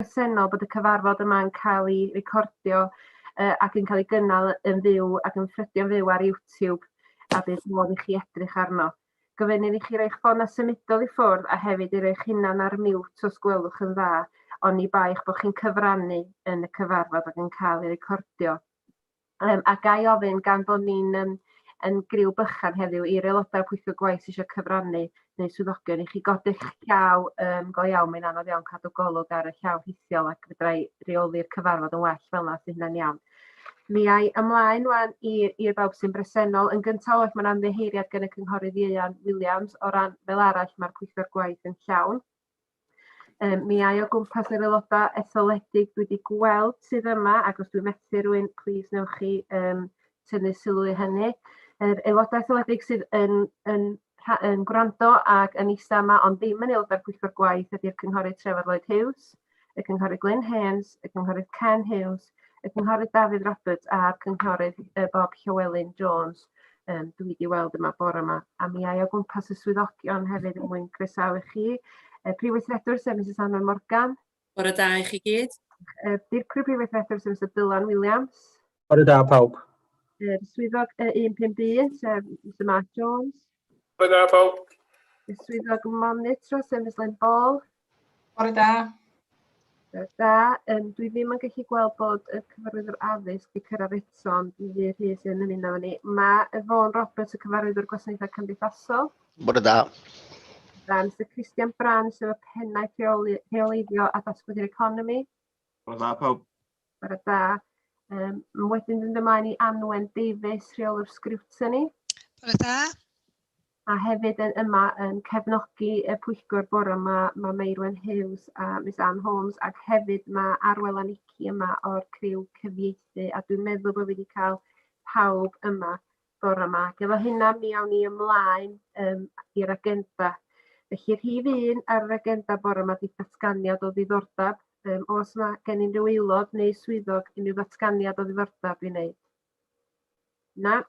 bresennol bod y cyfarfod yma yn cael ei recordio uh, ac yn cael ei gynnal yn fyw ac yn ffrydio'n fyw ar YouTube a bydd modd i chi edrych arno. Gofynnir i chi roi'ch ffona symudol i ffwrdd a hefyd i roi'ch hunan ar mute os gwelwch yn dda, ond ni baich bod chi'n cyfrannu yn y cyfarfod ac yn cael ei recordio. Yym, a ga i ofyn, gan bod ni'n yym yn griw bychan heddiw, i'r aelodau pwyllgor gwaith sydd eisiau cyfrannu, neu swyddogion, i chi godi'ch llaw yym go iawn, mae'n anodd iawn cadw golwg ar y llaw rhithiol ac fedra i reoli'r cyfarfod yn well fel 'na os 'di hynna'n iawn. Mi ai ymlaen ŵan i i'r bawb sy'n bresennol. Yn gyntaf oll, mae'n ymddiheuriad gan y Cynghorydd Ieuan Williams. O ran fel arall, mae'r pwyllgor gwaith yn llawn. Yym mi ai o gwmpas yr aeloda' etholedig dwi 'di gweld sydd yma ac os dwi'n methu rhywun plîs newch chi yym tynnu sylw i hynny. Yr aeloda' etholedig sydd yn yn rha- yn gwrando ag yn eista' yma ond ddim yn aelod o'r pwyllgor gwaith ydi'r Cynghorydd Trefor Lloyd Hughes. y Cynghorydd Glyn Hames, y Cynghorydd Ken Hughes, y Cynghorydd Dafydd Roberts a'r Cynghorydd uh, Bob Llywelyn Jones um, dwi wedi weld yma bore yma. A mi ai o gwmpas y swyddogion hefyd yn mwyn croesawu chi. Uh, Prif Weithredwr sef Mrs Anna Morgan. Bore da i chi gyd. Uh, Dirprwy Prif Weithredwr sef Mr Dylan Williams. Bore da pawb. Yr swyddog y 15 un sef Mr Mark Jones. Bore da pawb. Y swyddog monitro sef Miss Lynn Ball. Bore da. Bore da. Um, dwi ddim yn gallu gweld bod y cyfarwyddwr addysg wedi cyrraedd eto, ond mi fydd hi sy'n ymuno efo ni. Mae Yvonne Roberts, y cyfarwyddwr gwasanaethau cymdeithasol. Bore da. Da, Mr Christian Brand, sef y pennaeth rheoleiddio a datblygu'r economi. Bore da pawb. Bore da. Um, wedyn mynd ymlaen i Anwen Davies, rheolwr sgriwtoni. Bore da. A hefyd yn yma yn cefnogi y pwyllgor bore yma, mae Meirwen Hughes a Miss Anne Holmes, ac hefyd mae Arwel a Nici yma o'r criw cyfieithu, a dwi'n meddwl bod wedi cael pawb yma. bore 'ma. Ac efo hynna mi awn ni ymlaen yym i'r agenda. Felly rhif un ar yr agenda bore 'ma 'di datganiad o ddiddordab. Yym o's 'na gen unryw aelod neu swyddog unryw ddatganiad o ddiddordab i wneud? Na?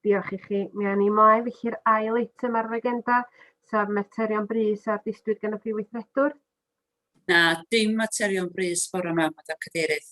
Diolch i chi. Mi awn ni ymlaen felly i'r ail eitem ar yr agenda, sef materion brys a ddisgwyd gan y Prif Weithredwr. Na, dim materion brys bore 'ma, Madam Cadeirydd.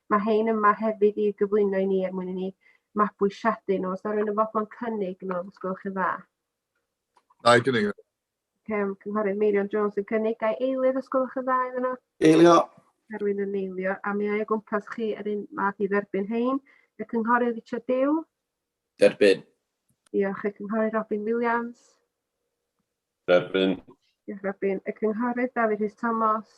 Mae hein yma hefyd i gyflwyno i ni er mwyn i ni mabwysiadu nhw. Os da rwy'n yn fodlon cynnig nhw, os gwelwch yn dda. Da i gynnig nhw. Cem, Cynghorydd Meirion Jones yn cynnig. Da i eilydd os gwelwch yn dda iddyn nhw. Eilio. Da rwy'n yn eilio. A mi ai o gwmpas chi yr un math i dderbyn hein. Y Cynghorydd Richard Dew. Derbyn. Diolch. Y Cynghorydd Robin Williams. Derbyn. Diolch Robin. Y Cynghorydd Dafydd Rhys Thomas.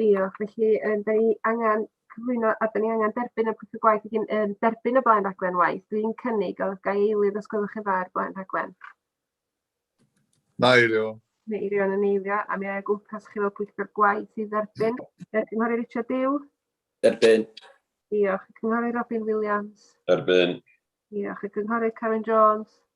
Diolch. Felly yym 'dan ni angan cyflwyno a 'dan ni angan derbyn y prif gwaith wedyn yym derbyn y blaen raglen waith. Dwi'n cynnig o'dd ga'i eilydd os gwelwch yn dda ar blaen rhaglen. Meirio. Meirio yn eilio a mi a i gwmpas chi fel pwyllgor gwaith i dderbyn. Yy Cynghori Richard Dew. Derbyn. Diolch. Cynghori Robin Williams. Derbyn. Diolch. Y Cynghori Karen Jones.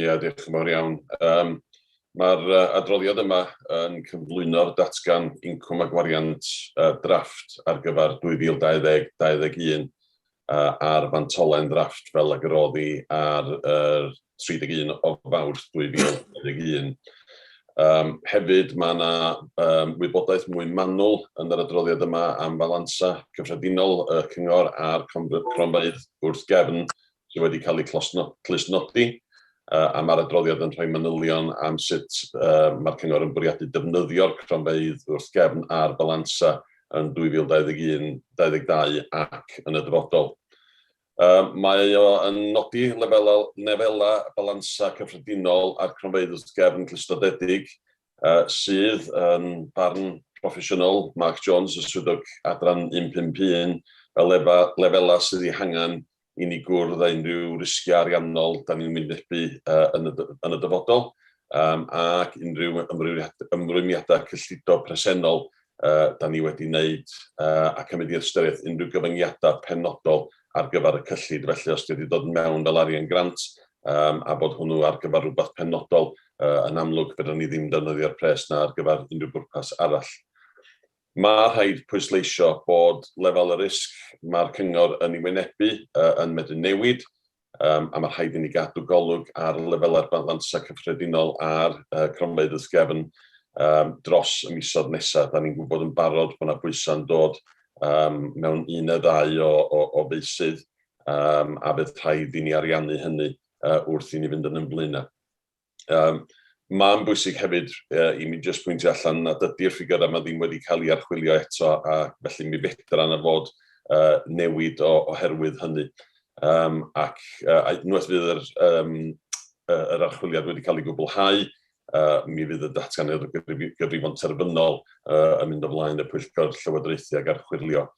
Ia, diolch yn fawr iawn. Um, Mae'r adroddiad yma yn cyflwyno'r datgan incwm a gwariant uh, drafft ar gyfer 2020-2021 uh, a'r fantolen drafft fel ag yr oddi ar uh, 31 o fawrth 2021. Um, hefyd mae yna um, wybodaeth mwy manwl yn yr adroddiad yma am falansa cyffredinol y cyngor a'r cronfeydd wrth gefn sydd wedi cael eu clustnodi, a mae'r adroddiad yn rhoi manylion am sut mae'r Cyngor yn bwriadu defnyddio'r cronfeydd wrth gefn a'r balansa yn 2021, 22 ac yn y dyfodol. Mae o yn nodi lefelau balansa cyffredinol a'r cronfeydd wrth gefn clustnodedig, sydd, yn barn proffesiynol Mark Jones, y Swyddog Adran 151, fel lefelau sydd eu hangen i ni gwrdd â unrhyw risgiau ariannol da ni'n wynebu yn y dyfodol ac unrhyw ymrwymiadau cyllido presennol da ni wedi wneud a cymryd i ystyriaeth unrhyw gyfyngiadau penodol ar gyfer y cyllid. Felly, os 'di o 'di dod mewn fel arian grant a bod hwnnw ar gyfer rhywbeth penodol, yn amlwg fedrwn ni ddim defnyddio'r pres 'na ar gyfer unrhyw bwrpas arall. Mae rhaid pwysleisio bod lefel y risg mae'r Cyngor yn ei wynebu yn medru newid, a mae rhaid i ni gadw golwg ar lefelau'r balansau cyffredinol a'r cronfeydd wrth gefn dros y misoedd nesaf. Da ni'n gwybod yn barod bod yna bwysau'n dod mewn un neu ddau o feysydd, a bydd rhaid i ni ariannu hynny wrth i ni fynd yn ein blaenau. Um, Mae'n bwysig hefyd uh, i mi jyst pwyntio allan nad ydy'r ffigurau yma ddim wedi cael ei archwilio eto a felly mi fedra yna fod uh, newid o, oherwydd hynny. Um, ac uh, unwaith fydd yr, um, yr archwiliad wedi cael ei gwblhau, uh, mi fydd y datganiad o gyfrifon terfynol uh, yn mynd ymlaen y pwyllgor llywodraethu ac archwilio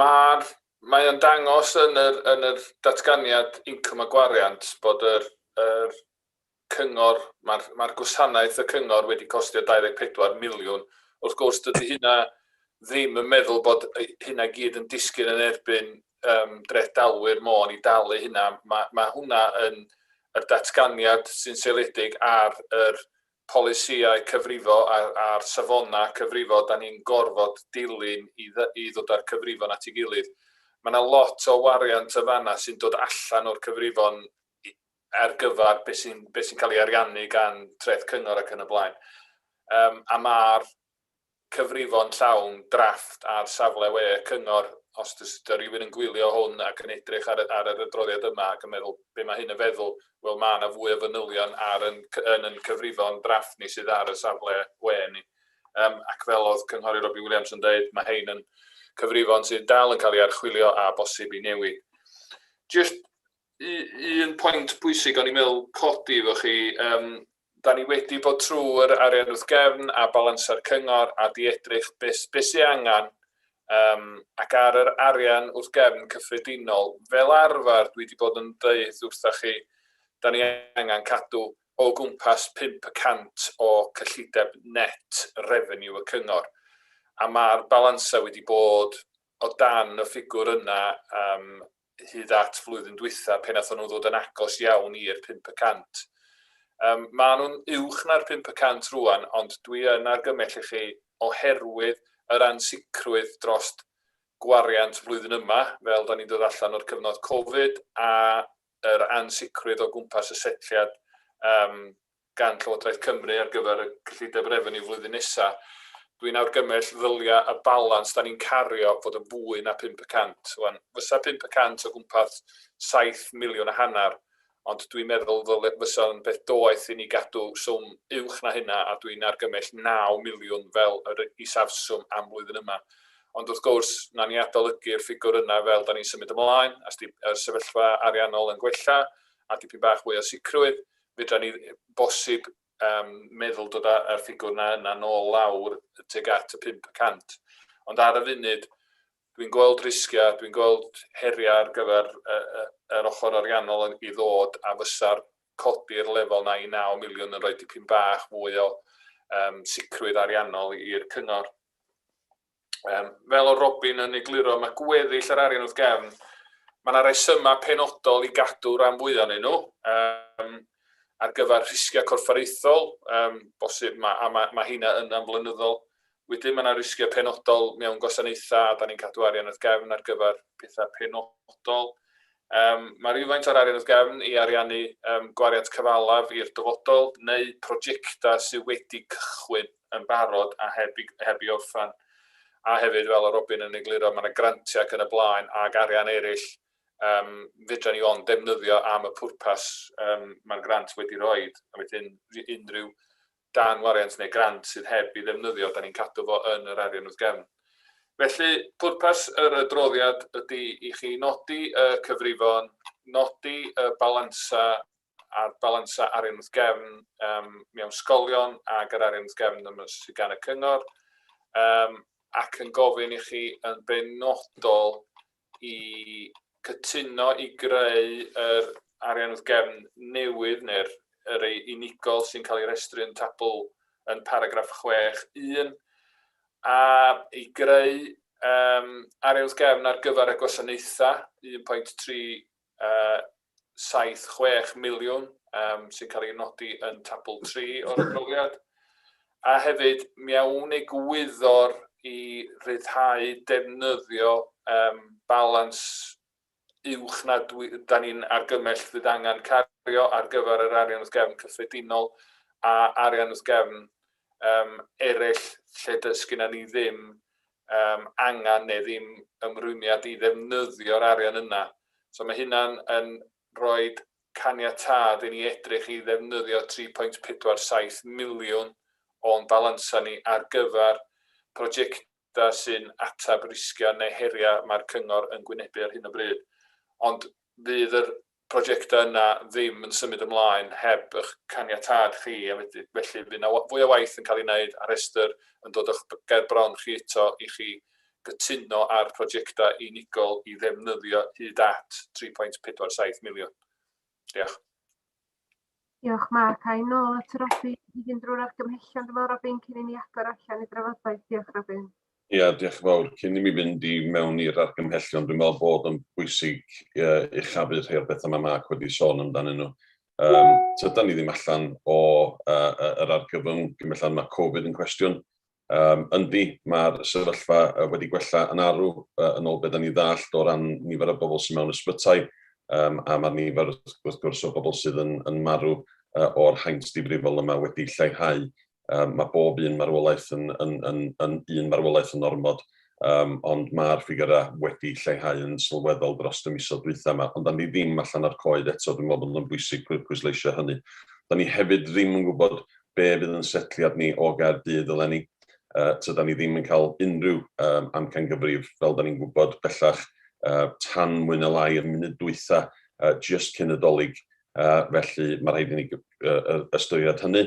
Mae'r, mae o'n dangos yn yr, yn yr datganiad incwm a gwariant bod yr, yr cyngor, mae'r, mae'r gwasanaeth y cyngor wedi costio 24 miliwn. Wrth gwrs, dydy hynna ddim yn meddwl bod hynna gyd yn disgyn yn erbyn um, dreth dalwyr môn i dalu hynna. Mae, mae hwnna yn yr datganiad sy'n seiliedig ar yr polisïau cyfrifo a'r safonau cyfrifo dan ni'n gorfod dilyn i ddod â'r cyfrifon at ei gilydd. Mae yna lot o wariant yn fan'na sy'n dod allan o'r cyfrifon ar gyfer beth sy'n cael ei ariannu gan Treth Cyngor ac yn y blaen. A mae'r cyfrifon llawn drafft ar safle we y cyngor, os ydy rhywun yn gwylio hwn ac yn edrych ar y ar yr adroddiad yma ac yn meddwl be mae hyn yn feddwl, wel mae yna fwy o fanylion ar yn yn yn cyfrifon drafft ni sydd ar y safle we ni. Yym ac fel oedd Cynghorydd Robbie Williams yn dweud, mae hein yn cyfrifon sydd dal yn cael ei archwilio a bosib i newid. Jyst un pwynt pwysig o'n i'n meddwl codi efo chi, yym Da ni wedi bod trwy'r arian wrth gefn a balansa'r cyngor a di edrych beth beth sydd angen um, ac ar yr arian wrth gefn cyffredinol, fel arfer dwi wedi bod yn dweud wrthoch chi, da ni angen cadw o gwmpas 5 y cant o cyllideb net revenue y cyngor. A mae'r balansau wedi bod o dan y ffigwr yna um, hyd at flwyddyn dwytha pe nathon nhw ddod yn agos iawn i'r 500. Um, mae nhw'n uwch na'r 500 rwan, ond dwi yn argymell i chi oherwydd yr ansicrwydd dros gwariant flwyddyn yma, fel da ni'n dod allan o'r cyfnod Covid, a yr ansicrwydd o gwmpas y setliad um, gan Llywodraeth Cymru ar gyfer y cyllideb refeniw flwyddyn nesa', dwi'n argymell ddylia' y balans 'da ni'n cario fod yn fwy na pump y cant. Wan, fysa pump y cant o gwmpas saith miliwn a hanner, ond dwi'n meddwl ddyle, fysa'n beth doeth i ni gadw swm uwch na hynna, a dwi'n argymell naw miliwn fel yr isafswm am flwyddyn yma. Ond wrth gwrs, 'na ni adolygu'r ffigwr yna fel 'da ni'n symud ymlaen, a 's 'di y sefyllfa ariannol yn gwella, a dipyn bach fwy o sicrwydd, Fedra ni bosib um, meddwl dod â'r ffigwr na yna nôl lawr teg at y 500. Ond ar y funud, dwi'n gweld risgiau, dwi'n gweld heriau ar gyfer yr ochr ariannol yn i ddod a fysa'r codi'r lefel na i 9 miliwn yn rhoi dipyn bach fwy o um, sicrwydd ariannol i'r cyngor. Um, fel o Robin yn egluro, mae gweddill yr arian wrth gefn, mae yna resymau penodol i gadw rhan fwy o'n nhw um, ar gyfer rhisgiau corfforaethol, um, bosib, mae, a mae, mae hynna yn amflynyddol. Wedyn mae yna risgiau penodol mewn gwasanaethau a da ni'n cadw arian wrth gefn ar gyfer pethau penodol. Um, mae rhywfaint o'r arian wrth gefn i ariannu um, gwariant cyfalaf i'r dyfodol neu prosiectau sydd wedi cychwyn. yn barod a heb i heb i orffen. A hefyd fel o Robin yn egluro mae yna grantiau ac yn y blaen ac arian eraill um, fedra ni ond defnyddio am y pwrpas um, mae'r grant wedi rhoi. A wedyn unrhyw dan wariant neu grant sydd heb i ddefnyddio, da ni'n cadw fo yn yr arian wrth gefn. Felly, pwrpas yr adroddiad ydy i chi nodi y cyfrifon, nodi y balansa a'r balansau arian wrth gefn mewn ysgolion ac yr arian wrth gefn sydd gan y cyngor, ac yn gofyn i chi yn benodol i cytuno i greu yr arian wrth gefn newydd neu'r rhai unigol sy'n cael ei restru yn tabl yn paragraff 6.1, a i greu arian wrth gefn ar gyfer y gwasanaethau, 1.3 76 miliwn sy'n cael ei nodi yn tabl 3 o'r adroddiad, a hefyd mewn egwyddor i ryddhau defnyddio balans uwch na dan ni'n argymell fydd angen cario ar gyfer yr arian wrth gefn cyffredinol a arian wrth gefn eraill lle does gennym ni ddim yym angen neu ddim ymrwymiad i ddefnyddio'r arian yna. So mae hynna'n yn rhoi caniatâd i ni edrych i ddefnyddio 3.47 miliwn o'n balansau ni ar gyfer projectau sy'n ateb risgiau neu heriau mae'r cyngor yn gwynebu ar hyn o bryd. Ond fydd yr prosiectau yna ddim yn symud ymlaen heb eich caniatâd chi, a felly fydd yna fwy o waith yn cael ei wneud a rhestr yn dod o'ch ger bron chi eto i chi gytuno ar prosiectau unigol i ddefnyddio hyd at 3.47 miliwn. Diolch. Diolch Mark. Ai nôl at Robin i fynd drwy'r argymhellion dyma Robin cyn i ni agor allan i drafodaeth. Diolch Robin. Ia, diolch yn fawr. Cyn i mi fynd i mewn i'r argymhellion, dwi'n meddwl bod o'n bwysig uchafu rhai o'r pethau mae Mark wedi sôn amdanyn nhw. Um, tydan ni ddim allan o uh, yr argyfwng, gymellad mae Covid yn cwestiwn, Yym, yndi, mae'r sefyllfa wedi gwella yn arw yn ôl be' 'dan ni'n ddallt o ran nifer y bobl sy mewn ysbytai, yym a ma'r nifer wrth gwrs o bobl sydd yn yn marw yy o'r haint difrifol yma wedi lleihau. Yym ma' bob un marwolaeth yn yn yn yn un marwolaeth yn ormod. ond ma'r ffigyra wedi lleihau yn sylweddol dros y misoedd dwytha ma, ond 'da ni ddim allan o'r coed eto, dwi'n meddwl bod o'n bwysig pwysleisio hynny. 'Da ni hefyd ddim yn gwybod be' fydd yn setliad ni o Gaerdydd eleni, tydan ni ddim yn cael unrhyw amcangyfrif fel 'da ni'n gwybod bellach tan mwy ne' lai yr munud dwytha jyst cyn y Dolig, felly ma' rhaid i ni ystyried hynny.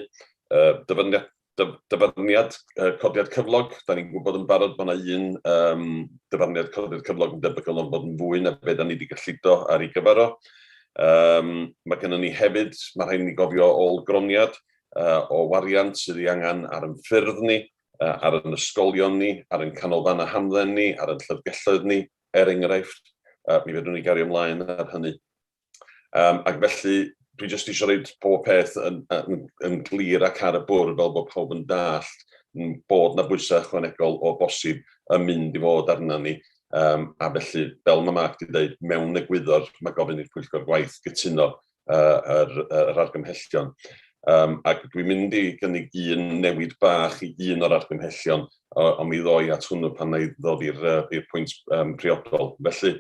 Dyfyniad Dyfarniad codiad cyflog, da ni'n gwybod yn barod bod yna un yym dyfarniad codiad cyflog yn debygol o'n bod yn fwy na be da ni wedi gyllido ar ei gyfer o. Yym ma' gynnon ni hefyd, ma' rhaid i ni gofio ôl-groniad yy o wariant sydd ei angen ar ein ffyrdd ni, yy ar ein ysgolion ni, ar ein canolfannau hamdden ni, ar ein llyfrgelloedd ni, er enghraifft, yy mi fedrwn ni gario mlaen ar hynny. Um, ac felly, dwi jyst eisiau rhaid pob peth yn, yn, yn glir ac ar y bwrdd fel bod pawb yn dallt bod na bwysau ychwanegol o bosib yn mynd i fod arna ni. Um, a felly, fel mae Mark wedi dweud, mewn egwyddor mae gofyn i'r pwyllgor gwaith gytuno uh, yr, yr argymhellion. Um, ac dwi'n mynd i gynnig un newid bach i un o'r argymhellion, ond mi ddoi at hwnnw pan na i ddod i'r pwynt um, priodol. Felly,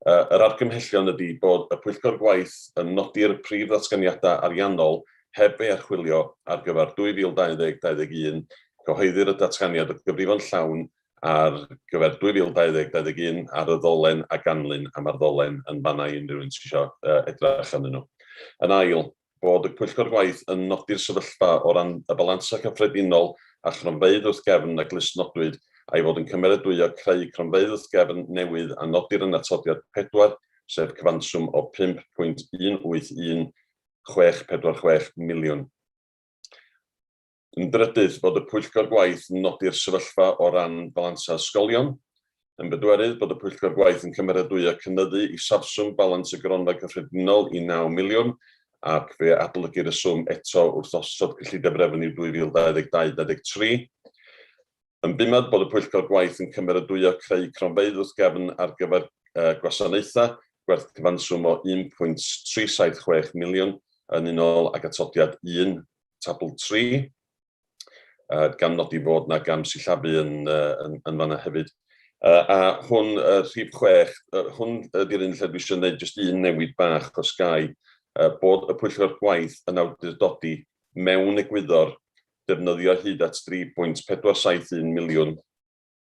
Yr argymhellion ydy bod y Pwyllgor Gwaith yn nodi'r prif ddatganiadau ariannol heb ei archwilio ar gyfer 2020 21, cyhoeddir y datganiad o gyfrifon llawn ar gyfer 2020 21 ar y ddolen a ganlyn am ar ddolen yn fan 'na i unrhyw un sydd eisiau edrych arnyn nhw. Yn ail, bod y Pwyllgor Gwaith yn nodi'r sefyllfa o ran y balansau cyffredinol a chronfeydd wrth gefn a glustnodwyd, a'i fod yn cymeradwyo creu cronfeydd wrth gefn newydd a nodir yn Atodiad 4, sef cyfanswm o 5.18164 miliwn. Yn drydydd, bod y Pwyllgor Gwaith yn nodi'r sefyllfa o ran balansau ysgolion. Yn bedwerydd, bod y Pwyllgor Gwaith yn cymeradwyo cynyddu isafswm balans y Gronfa Cyffredinol i naw miliwn ac fe adolygir y swm eto wrth osod cyllideb refeniw 2022 23. Yn bumad, bod y Pwyllgor Gwaith yn cymeradwyo creu cronfeydd wrth gefn ar gyfer gwasanaethau, gwerth cyfanswm o 1.376 miliwn yn unol ag atodiad 1. tabl 3, uh, gan nodi fod yna gam sillafu yn, uh, yn, yn fanna hefyd. Uh, a hwn, uh, rhif 6, uh, hwn ydy'r un lle dwi eisiau gwneud jyst un newid bach os gai, uh, bod y pwyllgor gwaith yn awdurdodi mewn egwyddor defnyddio hyd at 3.471 miliwn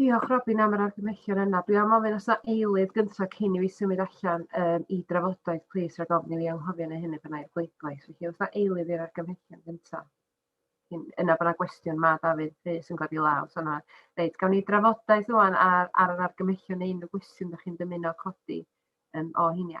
Diolch Robin am yr argymhellion yna. Dwi am ofyn os na eilydd gyntaf cyn i fi symud allan um, i drafodaeth, plis rhaid ofyn i fi anghofio neu hynny bynnag bleidlais. Felly os na eilydd i'r argymhellion gyntaf. Yna byna gwestiwn ma Dafydd Rhys yn godi law. So na, reit, gawn ni drafodaeth rwan ar, ar yr argymhellion neu unrhyw gwestiwn da chi'n dymuno codi um, o hynny.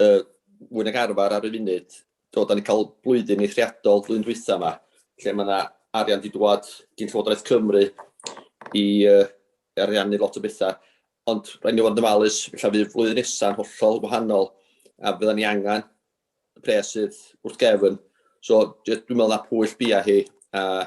yy mwy nag arfer ar y funud. Do, da ni cael blwyddyn eithriadol flwyddyn dwytha yma, lle mae yna arian wedi dwad gyn Llywodraeth Cymru i uh, ariannu lot o bethau. Ond rhaid ni fod yn dymalus, lle fydd flwyddyn nesaf hollol wahanol, a fydda ni angen y pres sydd wrth gefn. So, dwi'n meddwl na pwyll bia hi, a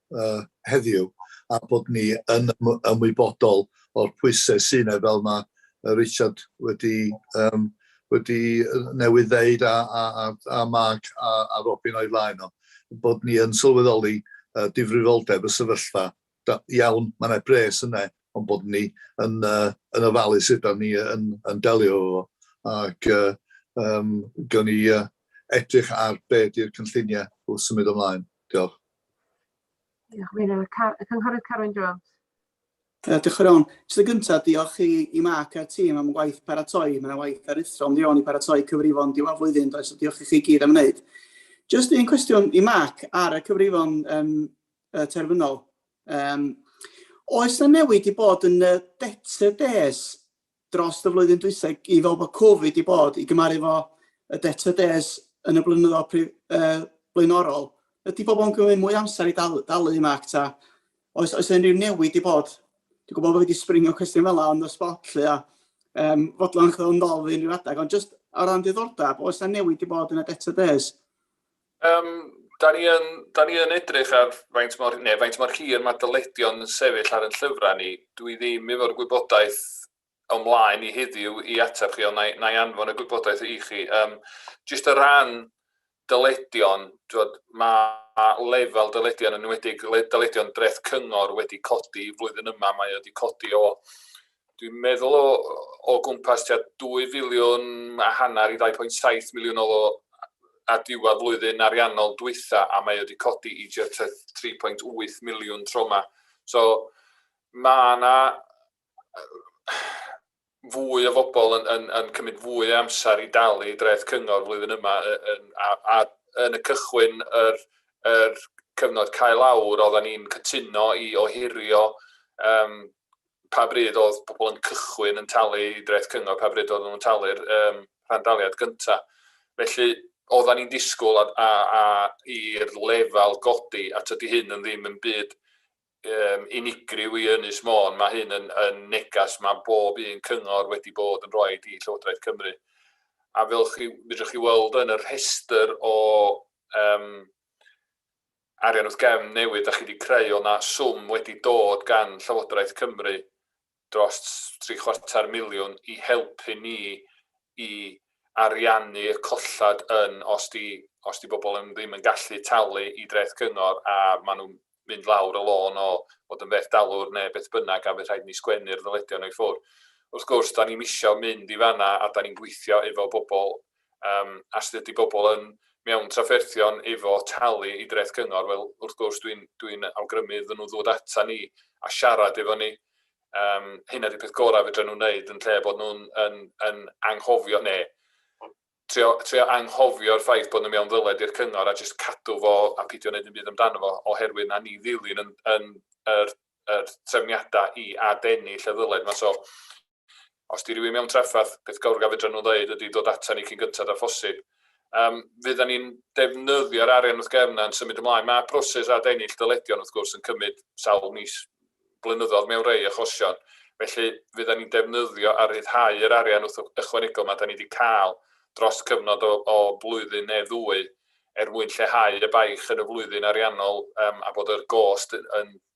uh, heddiw a bod ni yn ymwybodol o'r pwysau sy'n ei fel mae Richard wedi, um, wedi newydd ddeud a, a, a, a Mark a, a Robin o'i flaen o, bod ni yn sylweddoli uh, difrifoldeb y sefyllfa. Da, iawn, mae yna bres yna, ond bod ni yn, uh, yn ofalu sut da ni yn, yn delio fo. Ac uh, um, gawn ni uh, edrych ar be di'r cynlluniau wrth symud ymlaen. Diolch. Diolch, Meinir. Y Cynghorydd Carwyn Jones. Uh, diolch yn iawn. Jyst y gyntaf, diolch i, i Mark a'r tîm am waith paratoi. Mae yna waith aruthrol yn ddion i paratoi cyfrifon diwar flwyddyn, does, so diolch i chi gyd am wneud. Jyst un cwestiwn i Mark ar y cyfrifon um, uh, terfynol. Um, oes yna newid i bod yn y debtor des dros y flwyddyn dwytha i fel bod Covid i bod i gymaru fo y DTDs yn y blynyddoedd pri, uh, blaenorol, ydy pobl yn gymryd mwy amser i dal, dalu yma ac ta, oes, oes unrhyw newid i bod? Dwi'n gwybod bod wedi springo cwestiwn fel yna ond y spot lle a um, fodlon chyddo'n ddol fi unrhyw adeg, ond jyst ar ran diddordeb, oes yna newid i bod yn y DTDs? Yym, da ni yn, da ni yn edrych ar faint mor, neu faint mor hir mae dyledion yn sefyll ar yn llyfrau ni. Dwi ddim efo'r gwybodaeth o mlaen i heddiw i ateb chi, ond na i anfon y gwybodaeth i chi. Um, just o ran dyledion, dwod, mae lefel dyledion yn enwedig dyledion dreth cyngor wedi codi flwyddyn yma, mae wedi codi o dwi'n meddwl o, o gwmpas tua 2 filiwn a hanner i 2.7 miliwn o a diwedd flwyddyn ariannol dwytha a mae wedi codi i 3.8 miliwn tro yma. So mae yna fwy o fobl yn, yn, yn cymryd fwy o amser i dalu dreth cyngor flwyddyn yma yn, a, a yn y cychwyn yr, yr cyfnod cael awr oedden ni'n cytuno i ohirio um, pa bryd oedd pobl yn cychwyn yn talu i dreth cyngor, pa bryd oedden nhw'n talu'r um, rhandaliad gyntaf. Felly, oedden ni'n disgwyl a, a, a i'r lefel godi, a tydi hyn yn ddim yn byd um, unigryw i Ynys Môn, mae hyn yn, yn negas mae bob un cyngor wedi bod yn rhoi i Llywodraeth Cymru. A fel chi, fydrwch chi weld yn y rhestr o um, arian wrth gefn newydd dach chi wedi creu, oedd yna swm wedi dod gan Llywodraeth Cymru dros tri chwarter miliwn i helpu ni i ariannu y colled yn os 'di os 'di bobl yn ddim yn gallu talu i dreth cyngor a maen nhw'n mynd lawr y lôn o fod yn fethdalwr neu beth bynnag a fydd rhaid i ni sgwennu'r ddyledion nhw i ffwrdd. Wrth gwrs, da ni'm eisiau mynd i fanna a da ni'n gweithio efo bobl Yym, a sut ydy pobl yn mewn trafferthion efo talu i dreth cyngor? Wel, wrth gwrs, dwi'n dwi'n awgrymu iddyn nhw ddod ata ni a siarad efo ni. Yym, hynna ydy'r peth gorau fedra nhw wneud yn lle bod nhw'n yn, yn anghofio neu trio, trio anghofio'r ffaith bod nhw mewn ddyled i'r cyngor a jyst cadw fo a pidio wneud yn byd amdano fo oherwydd na ni ddilyn yn, yn yr, yr trefniadau i adennill y ddyled yma. So, Os 'di rywun mewn traffarth, peth gawr a fedran nhw ddeud ydi dod ata ni cyn gynted â phosib. Yym, fyddan ni'n defnyddio'r arian wrth gefn yna'n symud ymlaen. Mae proses ad-ennill dyledion wrth gwrs yn cymryd sawl mis, blynyddoedd mewn rhei achosion. Felly, fyddan ni'n defnyddio a rhyddhau yr arian wrth ychwanegol 'ma 'da ni 'di cael dros cyfnod o o flwyddyn neu ddwy er mwyn lleihau y baich yn y flwyddyn ariannol yym a bod yr gost yn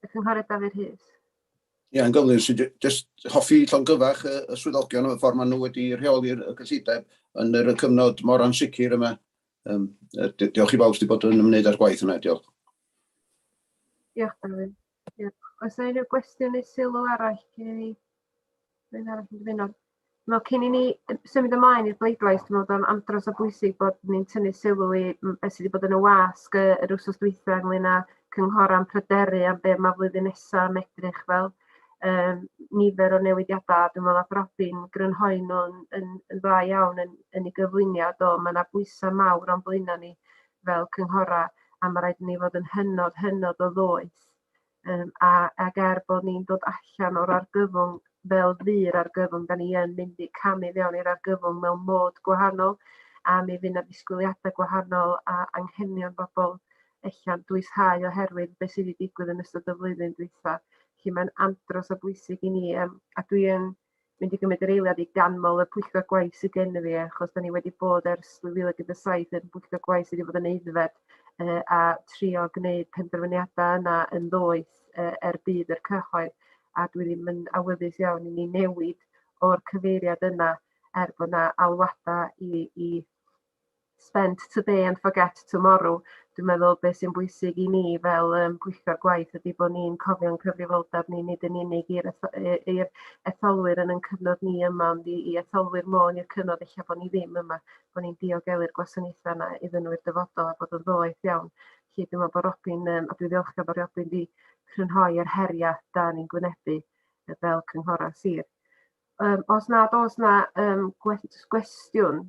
Y Cynghorydd Dafydd Hughes. Ie, yeah, yn gywir, sy'n just hoffi llongyfach y, y swyddogion o'r ffordd maen nhw wedi rheoli'r gyllideb yn yr cyfnod mor ansicr yma. Um, diolch i bawb sydd wedi bod yn ymwneud â'r gwaith yna, diolch. Diolch, Dafydd. Diolch. Os yna unrhyw gwestiwn neu sylw arall gen i, rwy'n arall yn dymuno. Wel, cyn i ni symud ymlaen i'r bleidlais, dwi'n meddwl bod o'n andros o bwysig bod ni'n tynnu sylw i beth sydd wedi bod yn y wasg yr wrsos dwytha ynglyn â cynghorau'n pryderu am beth mae flwyddyn nesaf yn edrych fel. Um, nifer o newidiadau, dwi'n meddwl bod Robin grynhoi nhw'n yn, yn dda iawn yn, yn ei gyflwyniad o. Mae yna bwysau mawr o'n blaenau ni fel cynghorau a mae rhaid ni fod yn hynod, hynod o ddoeth Yym a ag er bod ni'n dod allan o'r argyfwng fel fu'r argyfwng, da ni yn mynd i camu fewn i'r argyfwng mewn mod gwahanol a mi fydd 'na ddisgwyliadau gwahanol a anghenion bobl ella'n dwyshau oherwydd be sydd wedi digwydd yn ystod y flwyddyn dwytha. Felly mae'n andros o bwysig i ni yym a dwi yn mynd i gymryd yr eiliad i ganmol y pwyllgor gwaith sydd gen fi achos da ni wedi bod ers 2017 yn bwyllgor gwaith sydd wedi bod yn eiddfed uh, a trio gwneud penderfyniadau yna yn ddoeth uh, er bydd yr cyhoedd a dwi ddim yn awyddus iawn i ni newid o'r cyfeiriad yna er bod yna alwadau i, i spend today and forget tomorrow dwi'n meddwl beth sy'n bwysig i ni fel yym pwyllgor gwaith ydy bod ni'n cofio'n cyfrifoldeb ni nid yn unig i'r eth- yy i'r etholwyr yn 'yn cyfnod ni yma ond i i etholwyr Môn i'r cyfnod ella bo' ni ddim yma bo' ni'n diogelu'r gwasanaetha 'na iddyn nhw i'r dyfodol a bod yn ddoeth iawn. Felly dwi me'wl bo' Robin yym a dwi ddiolchgar bo' Robin 'di crynhoi yr heria' 'da ni'n gwynebu yy fel cynghora' sir. Yym os nad o's 'na yym gwe- jyst gwestiwn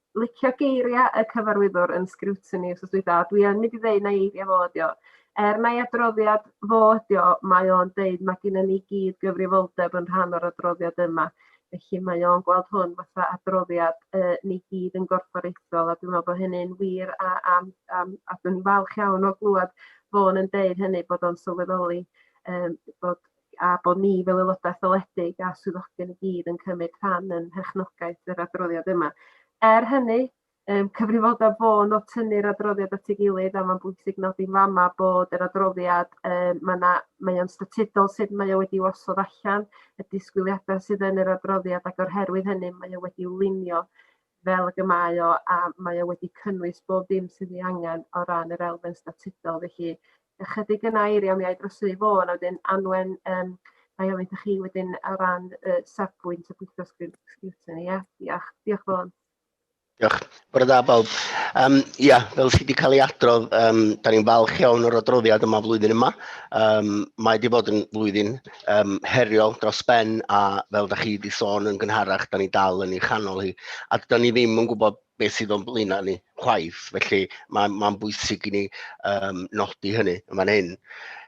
licio geiria y cyfarwyddwr yn scrutiny wsos dwytha a dwi yn mynd i ddeu na eiria fo ydi o. Er mai adroddiad fo ydi o, mae o'n deud mae gennym ni gyd gyfrifoldeb yn rhan o'r adroddiad yma. Felly mae o'n gweld hwn fatha adroddiad uh, ni gyd yn gorfforaethol a dwi'n meddwl bod hynny'n wir a, a, a, a dwi'n falch iawn o glwad fo'n yn deud hynny bod o'n sylweddoli um, bod a bod ni fel aelodau etholedig a swyddogion i gyd yn cymryd rhan yn mherchnogaeth yr adroddiad yma. Er hynny, um, cyfrifoldeb fo yn o'r tynnu'r adroddiad at ei gilydd a mae'n bwysig nodi fama bod yr adroddiad um, mae yna mae o'n statudol sut mae o wedi wasod allan y disgwyliadau sydd yn yr adroddiad ac o'r herwydd hynny mae o wedi lunio fel ag y mae o a mae o wedi cynnwys bob dim sydd ei angen o ran yr elfen statudol felly ychydig yn air iawn mi a'i drosi i Fôn a wedyn Anwen yym mae ofyn i chi wedyn o ran y safbwynt y pwyllgor sgrwtyn ia diolch diolch Fôn. Diolch. Bore da bawb. Um, ia, fel sydd wedi cael ei adrodd, um, da ni'n falch iawn o'r adroddiad yma flwyddyn yma. Um, mae wedi bod yn flwyddyn um, heriol dros ben a fel da chi wedi sôn yn gynharach, da ni dal yn ei chanol hi a da ni ddim yn gwybod beth sydd o'n blaenau ni chwaith, felly mae'n ma bwysig i ni um, nodi hynny yn fan hyn.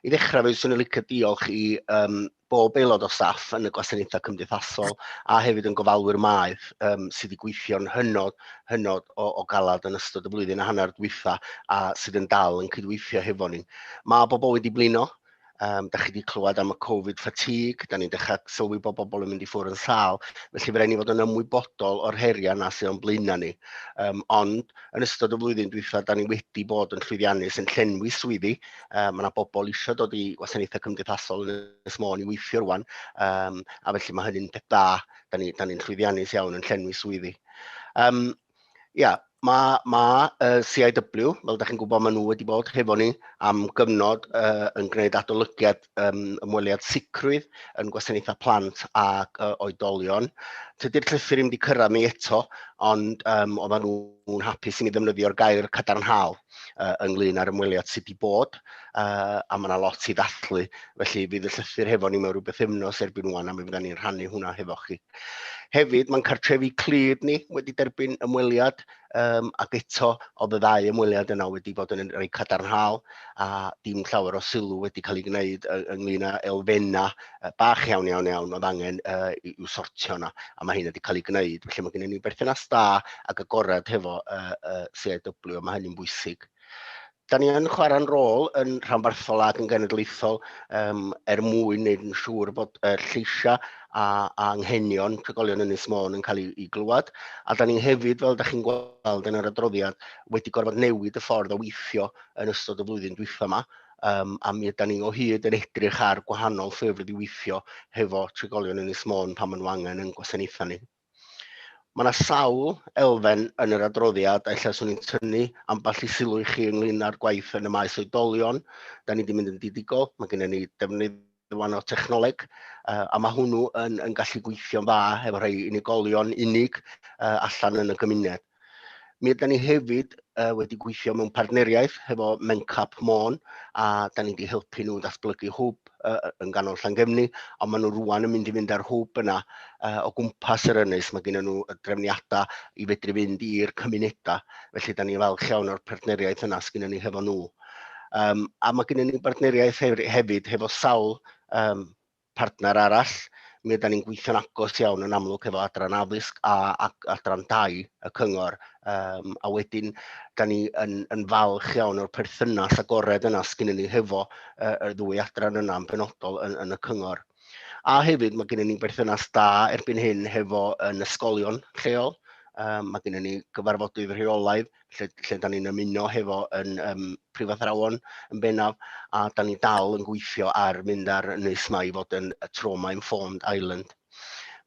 I ddechrau fe, swn i'n licio diolch i um, bob aelod o staff yn y gwasanaethau cymdeithasol a hefyd yn gofalwyr maeth um, sydd wedi gweithio'n hynod, hynod o, o galad yn ystod y flwyddyn a hanner dwytha a sydd yn dal yn cydweithio hefo ni. Mae bobl wedi blino Um, da chi wedi clywed am y Covid fatigue, da ni'n dechrau sylwi bod bobl yn mynd i ffwrdd yn sal, felly fe rhaid ni fod yn ymwybodol o'r heriau na sy'n o'n blaenau ni. Um, ond yn ystod y flwyddyn dwytha, da ni wedi bod yn llwyddiannus yn llenwi swyddi. Um, mae yna bobl eisiau dod i wasanaethau cymdeithasol yn Ynys Môn i weithio rwan, um, a felly mae hynny'n peth da, da ni'n ni, ni llwyddiannus iawn yn llenwi swyddi. Um, Ia, mae, mae uh, CIW, fel da chi'n gwybod, maen nhw wedi bod hefo ni am gyfnod uh, yn gwneud adolygiad um, ymweliad sicrwydd yn gwasanaethau plant ac uh, oedolion. Tydy'r llythyr ddim wedi cyrraedd ni eto, ond um, oedden nhw'n hapus i ni ddefnyddio'r gair cadarnhaol. uh, ynglyn â'r ymweliad sydd wedi bod, uh, a mae yna lot i ddathlu, felly fydd y llythyr hefo ni mewn rhywbeth efnos erbyn wan, a mi fydda ni'n rhannu hwnna hefo chi. Hefyd, mae'n cartrefi clir ni wedi derbyn ymweliad, um, ac eto, oedd y ddau ymweliad yna wedi bod yn rhoi cadarnhaol, a dim llawer o sylw wedi cael ei gwneud ynglyn â elfennau bach iawn, iawn, iawn, oedd angen uh, i'w sortio yna, a mae hyn wedi cael ei gwneud. Felly mae gennym ni berthynas da ac agored hefo uh, uh, CIW, a mae hynny'n bwysig. Da ni yn chwarae'n rôl yn rhanbarthol ac yn genedlaethol um, er mwyn wneud yn siŵr bod uh, lleisiau a, a anghenion trigolion yn Ynys Môn yn cael ei, ei glywed. A da ni hefyd, fel da chi'n gweld yn yr adroddiad, wedi gorfod newid y ffordd o weithio yn ystod y flwyddyn dwytha yma um, a mi ydan ni o hyd yn edrych ar gwahanol ffyrdd i weithio hefo trigolion yn Ynys Môn pan maen nhw angen yn gwasanaethau ni. Mae yna sawl elfen yn yr adroddiad a illa swn i'n tynnu ambell i sylw i chi ynglyn â'r gwaith yn y maes oedolion. Da ni wedi mynd yn didigol, mae gennym ni defnydd rwan o technoleg, uh, a mae hwnnw yn, yn gallu gweithio'n dda efo rhai unigolion unig uh, allan yn y gymuned. Mi ydy ni hefyd uh, wedi gweithio mewn partneriaeth hefo Mencap Môn a da ni wedi helpu nhw ddatblygu hwb uh, yn ganol Llangefni a maen nhw rwan yn mynd i fynd ar hwb yna uh, o gwmpas yr ynys. Mae gen nhw y drefniadau i fedru fynd i'r cymunedau. Felly da ni falch iawn o'r partneriaeth yna sgyn ni hefo nhw. Um, a mae gennym ni bartneriaeth hefyd hefo sawl um, partner arall. Mi ydym ni'n gweithio'n agos iawn yn amlwg hefo adran addysg a, a adran dau y cyngor. Um, a wedyn, da ni yn, yn falch iawn o'r perthynas agored yna sgyn ni hefo uh, y ddwy adran yna yn benodol yn, yn y cyngor. A hefyd mae gennym ni berthynas da erbyn hyn hefo yn ysgolion lleol. Um, mae gennym ni gyfarfodydd rheolaidd lle, lle da ni'n ymuno hefo yn um, prifathrawon yn bennaf, a da ni dal yn gweithio ar mynd ar nes mae i fod yn y Trauma Informed Island.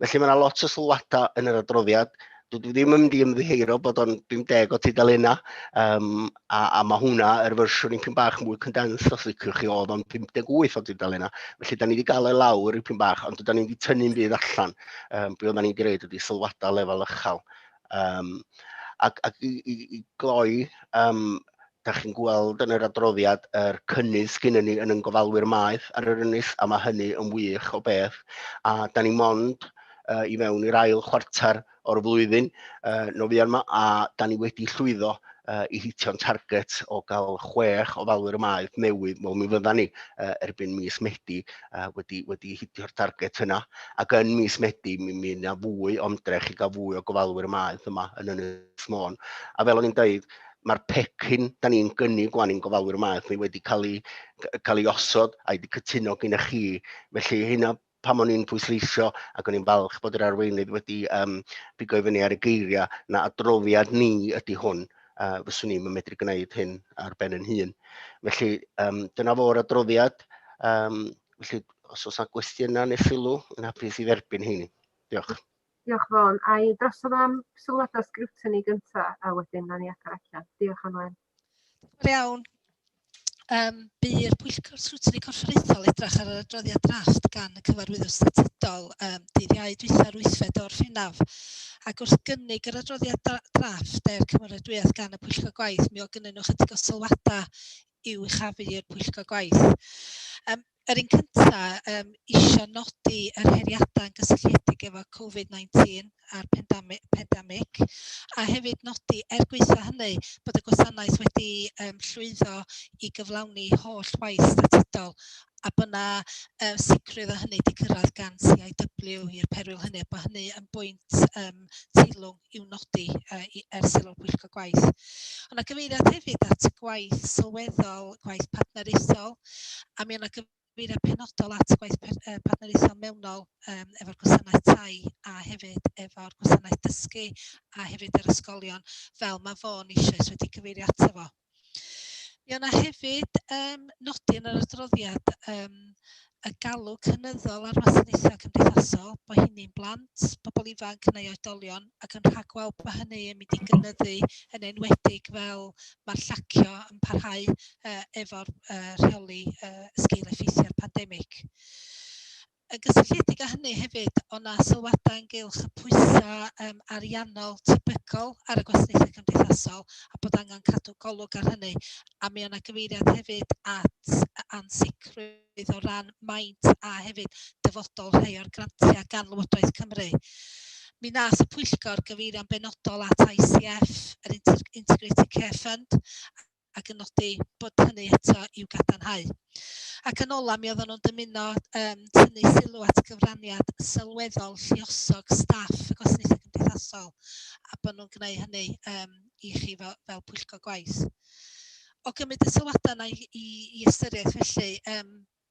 Felly mae yna lot o sylwadau yn yr adroddiad. Dwi ddim yn mynd i ymddiheuro bod o'n 50 o tudalennau, um, a, a mae hwnna, yr er fersiwn i'n pyn bach mwy condensed os liciwch chi, oedd o'n 58 o tudalennau. Felly, da ni wedi gael ei lawr i pyn bach, ond da ni wedi tynnu'n byd allan. Um, be oedden ni'n gwneud ydy sylwadau lefel ychel Um, ac, ac i, i, i gloi, um, da chi'n gweld yn yr adroddiad yr er cynnydd sgyn ni yn yn gofalwyr maeth ar yr ynys, a mae hynny yn wych o beth. A da ni mond uh, i mewn i'r ail chwarter o'r flwyddyn uh, nofio yma, a da ni wedi llwyddo uh, i hitio'n target o gael chwech o falwyr maeth newydd, wel mi fydda ni uh, erbyn mis Medi uh, wedi, wedi hitio'r target yna. Ac yn mis Medi, mi mi yna fwy o ymdrech i gael fwy o gofalwyr y maeth yma yn Ynys Môn. A fel o'n i'n dweud, mae'r pecyn da ni'n gynnig gwan i'n gofalwyr maeth ni wedi cael ei, cael ei osod a'i wedi cytuno gyda chi. Felly hynna pam o'n i'n pwysleisio ac o'n i'n falch bod yr arweinydd wedi um, bigo i fyny ar y geiriau na adroddiad ni ydy hwn a fyswn i'm yn medru gwneud hyn ar ben yn hun. Felly, um, dyna fo'r adroddiad. Um, felly, os oes yna gwestiynau neu sylw, yn hapus i dderbyn heini. Diolch. Diolch Fôn. A i drosodd am sylwadau sgrwtini gyntaf a wedyn na ni agor allan. Diolch Anwen. Diolch iawn. Um, By'r Pwyllgor Sgrwtini Corfforaethol edrach ar yr adroddiad drafft gan y cyfarwyddwr statudol um, dydd Iau dwytha'r wythfed o'r Rhinaf. Ac wrth gynnig yr adroddiad drafft er cymeradwyaeth gan y Pwyllgor Gwaith, mi o gynnyn nhw chydig o sylwadau i'w chafu i'r Pwyllgor Gwaith. Um, Yr un cynta yym isio nodi yr heriadau gysylltiedig efo Covid 19 a'r pandami- pandemic a hefyd nodi er gwaetha' hynny bod y gwasanaeth wedi yym llwyddo i gyflawni holl waith statudol a bod 'na yy sicrwydd o hynny 'di cyrraedd gan CIW i'r perwyl hynny a bod hynny yn bwynt yym teilwng i'w nodi yy i- er sylw y pwyllgor gwaith. Ond mae gyfeiriad hefyd at y gwaith sylweddol, gwaith partneriaethol, a mi o' 'na gyfeiriad penodol at y gwaith pe- yy partneriaethol mewnol yym efo'r gwasanaeth tai a hefyd efo'r gwasanaeth dysgu a hefyd yr ysgolion fel ma' Vaughan eisoes wedi cyfeirio ato fo. Mi o' 'na hefyd yym nodi yn yr adroddiad yym y galw cynyddol ar wasanaethau cymdeithasol, bo' hynny'n blant, pobl ifanc neu oedolion, ac yn rhagweld bod hynny yn mynd i gynyddu yn enwedig fel ma'r llacio yn parhau yy efo'r yy rheoli yy sgil-effeithiau'r pandemig. Yn gysylltiedig â hynny hefyd, o' 'na sylwadau ynghylch y pwysau yym ariannol tebygol ar y gwasanaethau cymdeithasol a bod angen cadw golwg ar hynny, a mi o' 'na gyfeiriad hefyd at ansicrwydd o ran maint a hefyd dyfodol rhai o'r grantiau gan Lywodraeth Cymru. Mi wnaeth y pwyllgor gyfeirio'n benodol at ICF, yr Inter- Integrated Care Fund, ac yn nodi bod hynny eto i'w gadarnhau. Ac yn ola, mi oedden nhw'n dymuno um, tynnu sylw at gyfraniad sylweddol lliosog staff y gwasanaethau cymdeithasol a bod nhw'n gwneud hynny um, i chi fel, fel pwyllgor gwaith. O gymryd y sylwadau yna i, i, i ystyriaeth felly, um,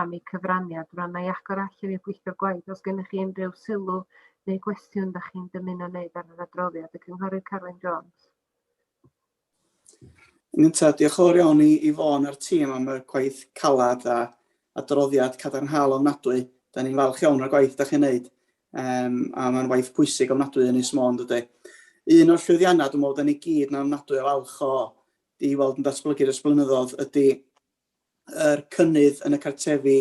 am eu cyfraniad rwan na i agor allan i'r gweithio'r gwaith os gennych chi unrhyw sylw neu gwestiwn da chi'n dymuno wneud ar yr adroddiad y cynghorydd Carwyn Jones. Yn gyntaf, diolch o'r iawn i, i Fôn a'r tîm am y gwaith calad a adroddiad cadarnhaol ofnadwy. Da ni'n falch iawn o'r gwaith da chi'n neud, um, a mae'n waith pwysig ofnadwy yn Ys Môn, dydy. Un o'r llwyddiannau dwi'n meddwl da ni gyd na ofnadwy o falch o di weld yn datblygu'r ysblynyddodd ydy yr cynnydd yn y cartrefi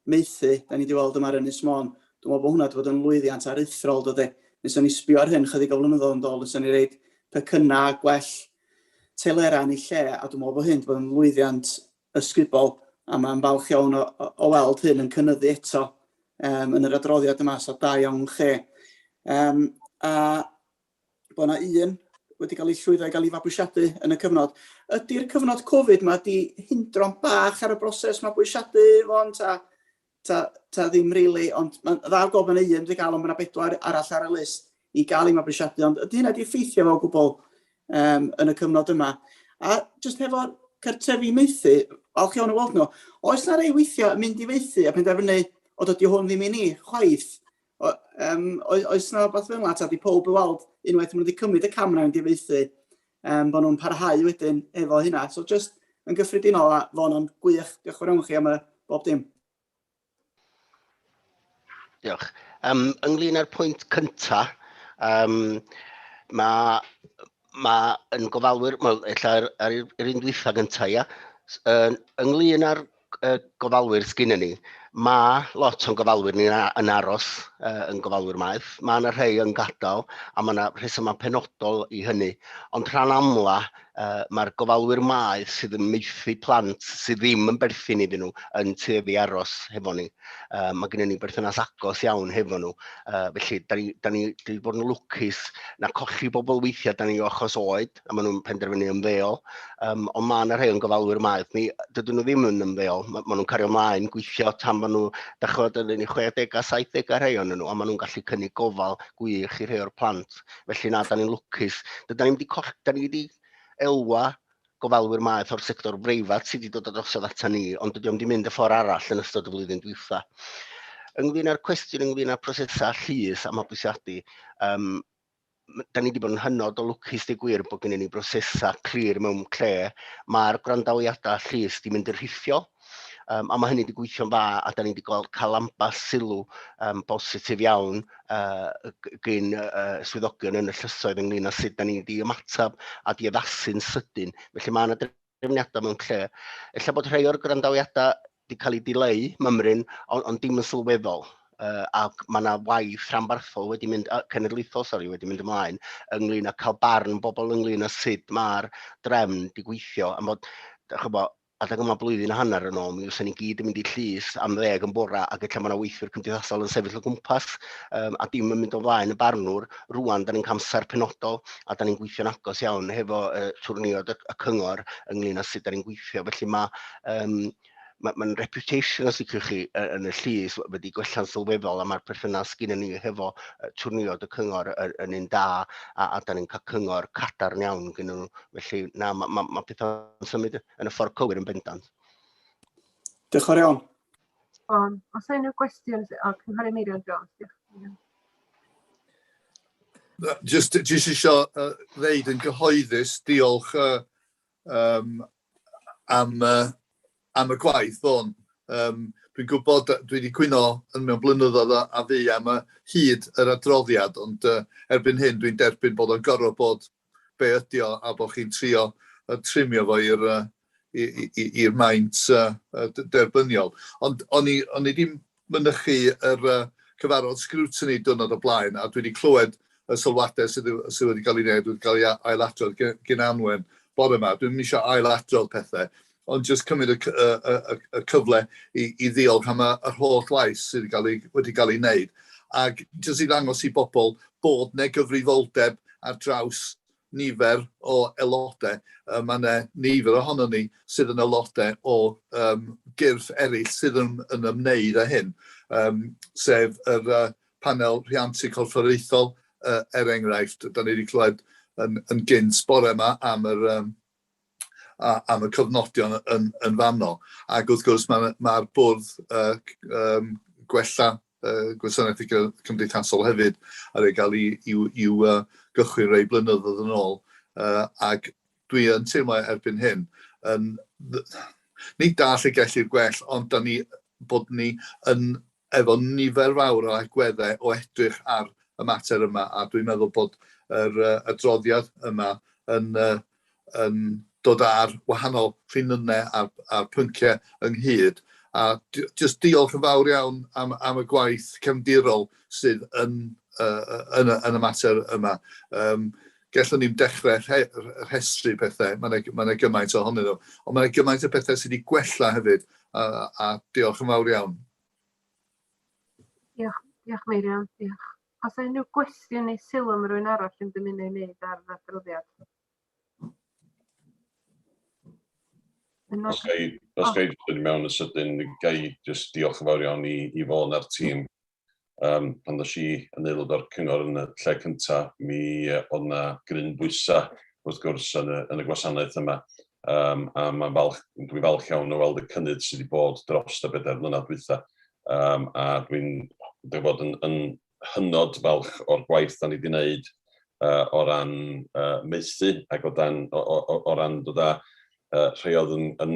maethu 'da ni 'di weld yma ar Ynys Môn, dwi'n meddwl bod hwnna 'di bod yn lwyddiant aruthrol do de. Mi 'swn i'n sbio ar hyn chydig o flynyddoedd yn dôl fyswn i'n roid pecynnau a gwell telerau yn ei lle a dwi'n meddwl bod hyn 'di bod yn lwyddiant ysgubol a mae'n falch iawn o, o, o weld hyn yn cynnyddu eto um, yn yr adroddiad yma, so da iawn chi. Um, a bod yna un wedi cael ei llwyddo i gael ei fabwysiadu yn y cyfnod. Ydy'r cyfnod Covid yma wedi hindro'n bach ar y broses mabwysiadu fo'n ta, ta, ta ddim rili, really, ond mae'n dda gofyn y un wedi cael, ond mae yna bedwar arall ar y list i gael ei mabwysiadu, ond ydy hynna wedi effeithio fo o gwbl um, yn y cyfnod yma. A jyst hefo cartrefi maethu, falch iawn o weld nhw, oes yna rei weithiau yn mynd i faethu a penderfynu o dydy hwn ddim i ni, chwaith, O, um, oes yna rhywbeth fel yna, ta di pob i weld unwaith maen nhw wedi cymryd y camera yn gyfeithi, um, bod nhw'n parhau wedyn efo hynna. So just yn gyffredinol a fo'n o'n gwych, diolch yn fawr chi am y bob dim. Diolch. Um, ynglyn â'r pwynt cyntaf, um, mae Mae yn gofalwyr, wel, ella ar, ar yr un dwytha gyntaf, ia, ynglyn â'r gofalwyr sgyn ni, mae lot o'n gofalwyr ni yn aros uh, yn gofalwyr maeth. Mae yna rhai yn gadael a mae yna rhesymau penodol i hynny. Ond rhan amla, uh, mae'r gofalwyr maeth sydd yn meithu plant sydd ddim yn berthyn iddyn nhw yn tueddu aros hefo ni. Uh, mae gennym ni berthynas agos iawn hefo nhw. Uh, felly, da ni, da ni, da ni bod yn lwcus na colli bobl weithiau da ni o achos oed, a maen nhw'n penderfynu ymddeol. Um, ond mae yna rhai o'n gofalwyr maeth ni, dydyn nhw ddim yn ymddeol. Mae ma nhw'n cario ymlaen gweithio tan maen nhw, da chod, yn ni 60 a 70 a rhai o'n nhw, a maen nhw'n gallu cynnig gofal gwych i rhai o'r plant. Felly na, da ni'n lwcus. Da ni wedi elwa gofalwyr maeth o'r sector breifat sydd wedi dod â drosodd ata ni, ond dydy o'm wedi mynd y ffordd arall yn ystod y flwyddyn dwytha. Ynglyn â'r cwestiwn ynglyn â prosesau llys a mabwysiadu, um, da ni wedi bod yn hynod o lwcus dy gwir bod gennym ni brosesau clir mewn lle mae'r gwrandawiadau llys wedi mynd yn rhithiol. Um, a mae hynny wedi gweithio'n dda a da ni wedi gweld cael ambell sylw um, bositif iawn uh, gyn uh, swyddogion yn y llysoedd ynglyn â sut da ni wedi ymateb a di addasu'n sydyn. Felly mae yna drefniadau mewn lle. Ella bod rhai o'r grandawiadau wedi cael ei dileu, mymryn, ond on dim yn sylweddol. Uh, ac mae yna waith rhanbarthol wedi mynd, uh, cenedlaethol, sori, wedi mynd ymlaen, ynglyn â cael barn bobl ynglyn â sut mae'r drefn di gweithio, am fod, chybod, Adeg yma blwyddyn a hanner yn ôl, mi fysa ni gyd yn mynd i llys am ddeg yn bora ac ella mae yna weithwyr cymdeithasol yn sefyll o gwmpas um, a dim yn mynd o flaen y barnwr. Rwan, da ni'n camser penodol a da ni'n gweithio'n agos iawn hefo uh, twrniod y, y cyngor ynglyn â sut da ni'n gweithio. Felly mae um, mae'n ma reputation os ydych chi yn y llys wedi gwella'n sylweddol a mae'r perthynas gyda ni hefo twrniod y cyngor yn un da a, a da ni'n cael cyngor cadarn iawn gyda nhw. Felly na, mae ma, ma pethau yn symud yn y ffordd cywir yn bendant. Diolch o'r iawn. Bon, os yna unrhyw gwestiwn, o, Cynghori Meirion Jones, diolch. Just, just eisiau uh, ddeud yn gyhoeddus, diolch uh, um, am, uh, am y gwaith, Bon. Um, Dwi'n gwybod, dwi wedi cwyno yn mewn blynyddoedd a, a fi am y hyd yr adroddiad, ond uh, erbyn hyn dwi'n derbyn bod o'n gorfod bod be ydi o a bod chi'n trio yn trimio fo i'r uh, i'r maint uh, derbyniol. Ond o'n i, on i ddim mynychu yr uh, cyfarfod scrutiny diwrnod o blaen, a dwi wedi clywed y sylwadau sydd, sydd wedi cael ei wneud, wedi cael ei ailadrodd gen, gen Anwen bore yma. Dwi'n eisiau ailadrodd pethau. Ond jyst cymryd y y y y y cyfle i i ddiolch am y yr holl waith sydd ga'l ei wedi ga'l ei wneud, ac jyst i ddangos i bobl bod 'ne gyfrifoldeb ar draws nifer o aelode. Yy ma' 'ne nifer ohonon ni sydd yn aelode o yym gyrff eryll sydd yn yn ymwneud â hyn, yym sef yr yy panel rhiantu corfforaethol yy er enghraifft. 'Dan ni 'di clywed yn yn gynt bore 'ma am yr yym am y cofnodion yn fanno. Ac wrth gwrs mae'r ma bwrdd uh, um, gwella uh, gwasanaeth cymdeithasol hefyd ar ei gael i'w uh, gychwyn rei blynyddoedd yn ôl. Uh, ac dwi yn teimlo erbyn hyn, yn, ni dall y gellir gwell, ond da ni bod ni yn efo nifer fawr o agweddau o edrych ar y mater yma, a dwi'n meddwl bod yr adroddiad yma yn yn dod â'r wahanol rhinynnau a'r a'r pynciau ynghyd, a jyst diolch yn fawr iawn am am y gwaith cefndirol sydd yn yn y mater yma. Yym gallwn ni'm dechrau rhe- r- rhestru pethau, mae yna mae yna gymaint ohonyn nhw. Ond mae yna gymaint o bethau sydd wedi gwella hefyd, a, a diolch yn fawr iawn. Diolch, diolch Meirion, diolch. Os yna unrhyw gwestiwn neu sylw am rwy'n arall yn dymuno ei wneud ar yr adroddiad? Os ga i, os ga i ddod mewn yn sydyn, ga i jyst diolch yn fawr iawn i, i Fôn a'r tîm Yym pan ddois i yn aelod o'r cyngor yn y lle cynta mi yy o'dd 'na gryn bwysa wrth gwrs yn y yn y gwasanaeth yma yym a ma'n falch dwi'n falch iawn o weld y cynnydd sy' 'di bod drost y bedair mlynadd dwytha yym a dwi'n dwi bod yn yn hynod falch o'r gwaith 'dan ni 'di neud yy o ran yy maethu ag o dan o o o o ran dod â yy rhei o'dd yn yn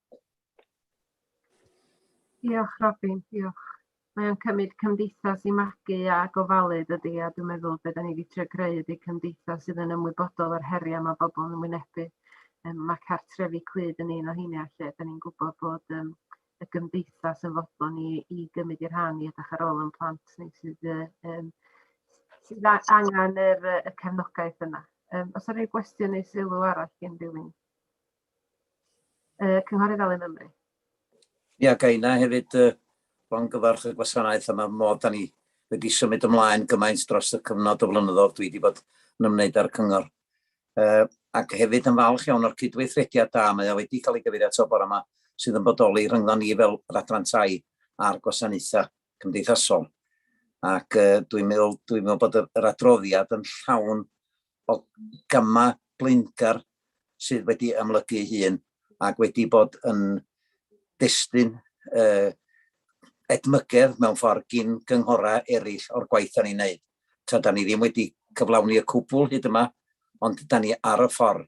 Diolch Robin, diolch. Mae o'n cymryd cymdeithas i magu a gofalu dydy a dwi'n meddwl be da ni wedi trio greu ydy cymdeithas sydd yn ymwybodol o'r heriau mae bobl yn wynebu. Um, mae cartrefi clyd yn un o heiniau lle da ni'n gwybod bod um, y gymdeithas yn fodlon ni i gymryd i'r rhan i edrych ar ôl yn plant ni sydd, um, sydd angen yr, y cefnogaeth yna. Um, os yna rhyw gwestiwn neu sylw arall gen rhywun? Uh, Cynghorydd Alun Ymru. Ia, yeah, gaina hefyd uh, longyfarch y gwasanaeth yma mod da ni wedi symud ymlaen gymaint dros y cyfnod o flynyddoedd dwi wedi bod yn ymwneud â'r cyngor. Uh, ac hefyd yn falch iawn o'r cydweithrediad da mae o wedi cael ei gyfeirio ato bore yma sydd yn bodoli rhyngddon ni fel yr adran tai a'r gwasanaethau cymdeithasol. Ac uh, dwi'n meddwl, dwi meddwl bod yr adroddiad yn llawn bod gama blinder sydd wedi amlygu ei hun ac wedi bod yn destun uh, edmygedd mewn ffordd gyn gynghorau eraill o'r gwaith da ni'n neud. Ta, da ni ddim wedi cyflawni y cwbl hyd yma, ond da ni ar y ffordd.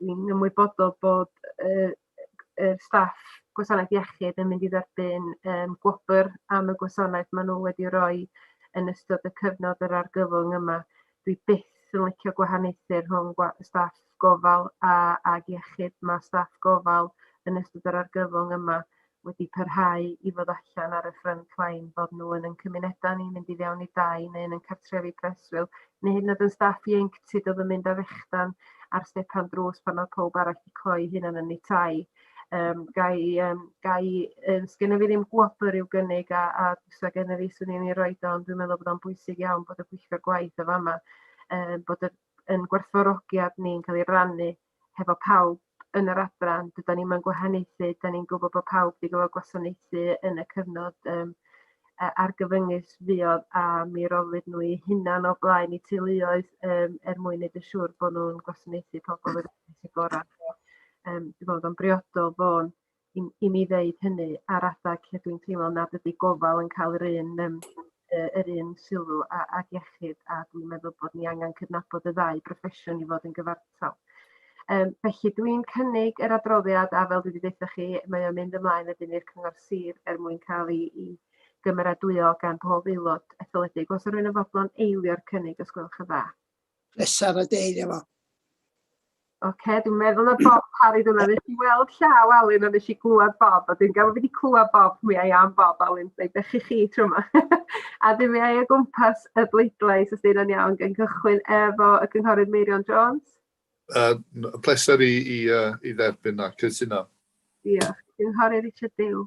Dwi'n ymwybodol bod y y staff gwasanaeth iechyd yn mynd i dderbyn yym gwobr am y gwasanaeth ma' nw wedi roi yn ystod y cyfnod yr argyfwng yma. Dwi byth yn licio gwahaniaethu rhwng gwa- staff gofal a ag iechyd ma' staff gofal yn ystod yr argyfwng yma wedi parhau i fod allan ar y front line, bod nhw yn ein cymunedau ni, mynd i fewn i dai neu yn ein cartrefi preswyl, neu hyd yn oed yn staff ieuenctid oedd yn mynd â fechdan ar stepan drws pan oedd pawb arall wedi cloi hunan yn eu tai. Um, gai, um, gai, um, sgynna fi ddim gwobr i'w gynnig a, a fysa gen i fi swn i'n ei roed o, ond dwi'n meddwl bod o'n bwysig iawn bod y pwyllgor gwaith o fama, um, bod y, yn gwerthfawrogiad ni'n cael ei rannu hefo pawb yn yr adran dydan ni'm yn gwahaniaethu 'dan ni'n gwbo bo' pawb 'di gorfo gwasanaethu yn y cyfnod yym yy argyfyngus fuodd a mi roddwyd n'w 'u hunan o blaen 'u teuluoedd yym er mwyn neud yn siŵr bo' nw'n gwasanaethu pobol yr gora. Yym dwi me'wl bod o'n briodol bo' i, i mi ddeud hynny ar adeg lle dwi'n teimlo nad ydy gofal yn cael yr un um, yr un sylw a, a iechyd a dwi'n meddwl bod ni angen cydnabod y ddau broffesiwn i fod yn gyfartal. Um, felly dwi'n cynnig yr adroddiad a fel dwi wedi dweud chi, mae o'n mynd ymlaen wedyn i'r cyngor sir er mwyn cael ei, ei gymeradwyo gan pob aelod etholedig. Os yw'n rhywun yn fodlon eilio'r cynnig, os gwelwch yn dda. pleser a deil efo. Oce, okay, dwi'n meddwl na Bob Parry dyna. Nes i weld llaw Alun a nes i glwad Bob, a dwi'n gael wedi clwad Bob, mi ai am Bob Alun, fe ddech chi chi tro yma. a dwi'n mi ai o gwmpas y bleidlais, os dyn nhw'n iawn, gan gychwyn efo y cynghorydd Meirion Jones. Uh, pleser i, i, uh, i dderbyn a cytuno. Diolch. Cynghorydd Richard Dew.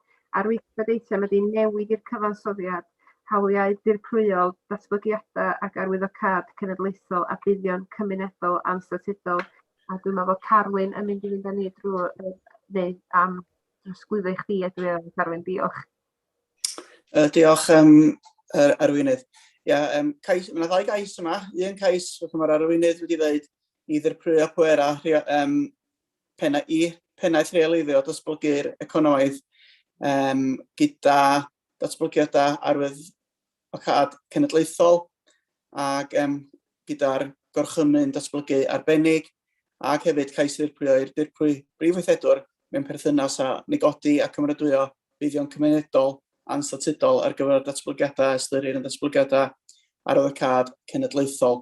a'r weithred eitem ydy newid i'r cyfansoddiad, hawliau dirprwyol, datblygiadau ac arwyddocâd cenedlaethol a buddion cymunedol anstatudol. A dwi'n meddwl bod Carwyn yn mynd i fynd â ni drwy neu am drosglwyddo i chdi a dwi'n meddwl Carwyn, diolch. Uh, diolch um, yr arweinydd. Ia, um, cais, mae yna ddau gais yma. Un cais, fel mae'r arweinydd wedi dweud, i ddirprwyo pwerau um, pennaeth, pennaeth rheoleiddio datblygu'r economaidd um, gyda datblygiadau arwydd o cad cenedlaethol ac um, gyda'r gorchymyn datblygu arbennig ac hefyd cais ddirprwyo i'r dirprwy brif weithredwr mewn perthynas â negodi a cymeradwyo buddion cymunedol anstatudol ar gyfer datblygiadau a ystyrir yn datblygiadau arwyddocâd cenedlaethol.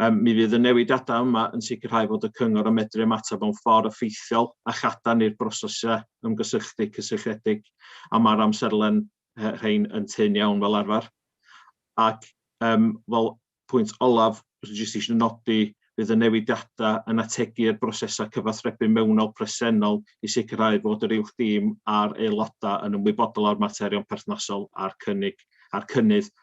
Mi fydd y newidiadau yma yn sicrhau fod y Cyngor yn medru ymateb mewn ffordd effeithiol a chadarn i'r brosesau ymgysylltu cysylltiedig, a mae'r amserlen rhain yn tynn iawn fel arfer. Ac fel pwynt olaf, jyst eisiau nodi, bydd y newidiadau yn ategu i'r brosesau cyfathrebu mewnol presennol i sicrhau fod yr Uwch Dîm a'r aelodau yn ymwybodol o'r materion perthnasol a'r cynnydd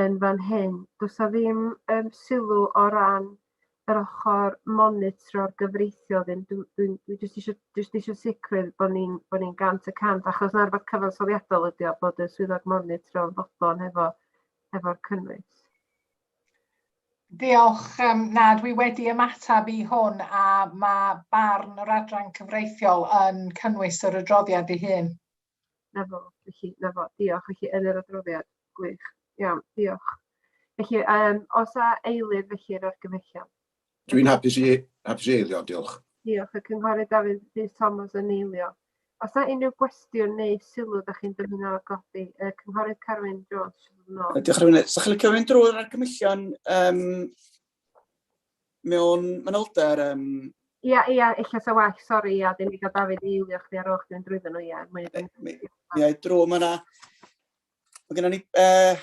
yn fan hyn. Does 'na ddim yym sylw o ran yr ochr monitro'r gyfreithiol ddim. Dw dwi'n dwi jyst isio jyst isio sicrwydd bod ni'n bod ni'n gant y cant achos 'na rwbath cyfansoddiadol ydi o bod y swyddog monitro yn fodlon hefo hefo'r cynnwys. Diolch. Um, na, dwi wedi ymateb i hwn a mae barn yr adran cyfreithiol yn cynnwys yr adroddiad ei hun. 'Na fo, felly 'na fo. Diolch. Felly yn yr adroddiad. Gwych. Iawn, diolch. Felly, um, os a eilir felly yr argymhellion. Dwi'n hapus i, hapus i eilio, diolch. Diolch. Y cynghorydd Dafydd Rhys Thomas yn eilio. Os a unrhyw gwestiwn neu sylw da chi'n dymuno godi, y cynghorydd Carwyn Jones. No. Diolch, Rwy'n. Sa'ch chi'n licio mynd drwy'r argymhellion um, Mewn manylder yym... Ia ia ella 'sa well sori ia ddim digon Dafydd i eilio chdi ar ôl chdi fynd drwyddo nhw ia mwya dyn ni... Ia drwg ma' 'na ma' gynnon ni yy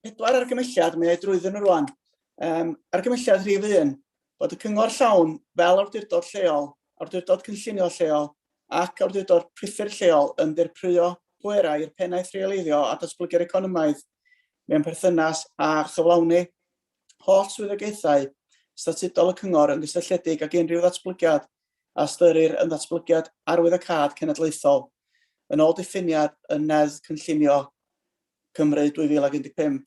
pedwar argymelliad mae o drwyddyn nhw rŵan. Yym argymelliad rhif un bod y cyngor llawn fel awdurdod lleol, awdurdod cynllunio lleol ac awdurdod priffyrdd lleol yn ddirprwyo pwerau i'r pennaeth rheoleiddio a datblygu'r economaidd mewn perthynas â chyflawni holl swyddogaethau statudol y Cyngor yn gysylltiedig ag unrhyw ddatblygiad a ystyrir yn ddatblygiad arwyddocâd cenedlaethol, yn ôl diffiniad yn Neddf Cynllunio Cymru 2015,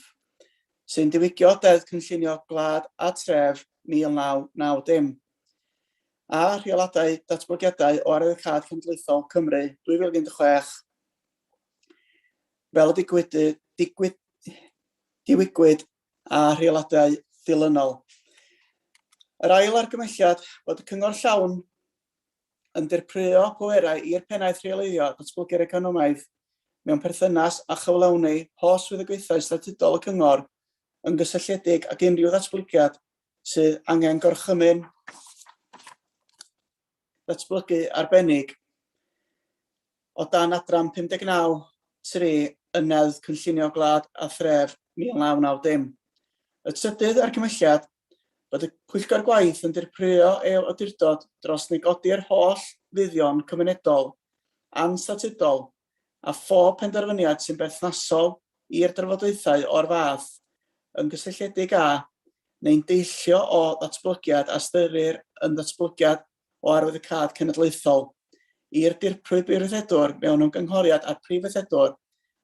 sy'n diwygio Deddf Cynllunio Gwlad a Tref 1990, a rheoladau datblygiadau o arwyddocâd cenedlaethol Cymru 2016 fel y digwyd, digwyd, diwygwyd a rheoladau dilynol. Yr ail argymelliad bod y cyngor llawn yn dirprwyo pwerau i'r pennaeth rheoleiddio a datblygu'r economaidd mewn perthynas â chyflawni holl swyddogaethau statudol y cyngor yn gysylltiedig ag unrhyw ddatblygiad sydd angen gorchymyn datblygu arbennig o dan adran 59, tri, yn Neddf Cynllunio Gwlad a Thref 1990. Y trydydd argymhelliad, bod y Pwyllgor Gwaith yn dirprwyo ei awdurdod dros negodi'r holl fuddion cymunedol anstatudol a phob penderfyniad sy'n berthnasol i'r drafodaethau o'r fath, yn gysylltiedig â, neu'n deillio o, ddatblygiad a ystyrir yn ddatblygiad o arwyddocâd cenedlaethol, i'r Dirprwy Brifweithredwr mewn ymgynghoriad â'r Prif Weithredwr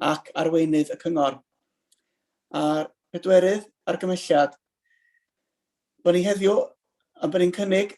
ac Arweinydd y Cyngor. A'r pedwerydd argymhelliad, bod ni heddiw, a bod ni'n cynnig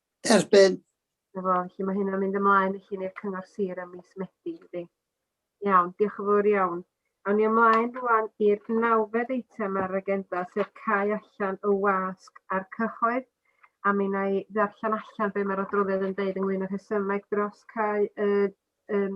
Erbyn. Efo, felly mae hynna'n mynd ymlaen felly ni'r Cyngor Sir ym mis Medi, ydy. Iawn, diolch yn fawr iawn. Awn ni ymlaen rwan i'r nawfed eitem ar yr agenda, sef cau allan y wasg a'r cyhoedd. A mi wna i ddarllen allan be mae'r adroddiad yn deud ynglyn â'r rhesymeg dros cau y Yym,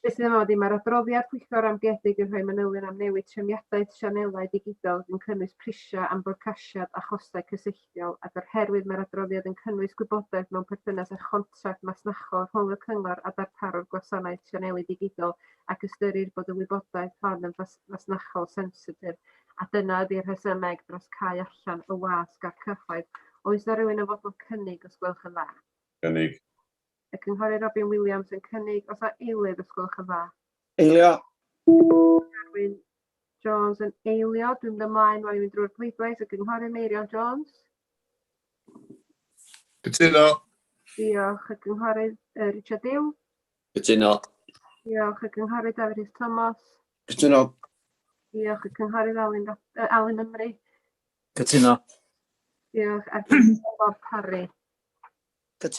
beth sydd yma ddim mae'r adroddiad pwyllgor amguedig yn rhoi manylion am newid trefniadaeth sianelau digidol yn cynnwys prisiau am fodcasiad a chostau cysylltiol ac o'r herwydd mae'r adroddiad yn cynnwys gwybodaeth mewn perthynas â chontract masnachol rhwng y cyngor a darparwr gwasanaeth sianelu digidol ac ystyrir bod y wybodaeth hon yn fasnachol sensitif a dyna ydy'r rhesymeg dros cau allan y wasg a'r cyhoedd. Oes na rywun yn fodlon cynnig os gwelwch yn dda? Cynnig. Y Cynghorydd Robin Williams yn cynnig os a eilydd os gwelwch yn dda. Eilio. Carwyn Jones yn eilio. Dwi'n mynd ymlaen rwan i fynd drwy'r pleidlais. Y Cynghorydd Meirion Jones. Cytuno. Diolch. Y Cynghorydd uh, Richard Dew. Cytuno. Diolch. Y Cynghorydd Dafydd Rhys Thomas. Cytuno. Diolch. Y Cynghorydd Alun, uh, Alun Ymru. Cytuno. Diolch. A'r Cynghorydd Bob Parry. Cytuno.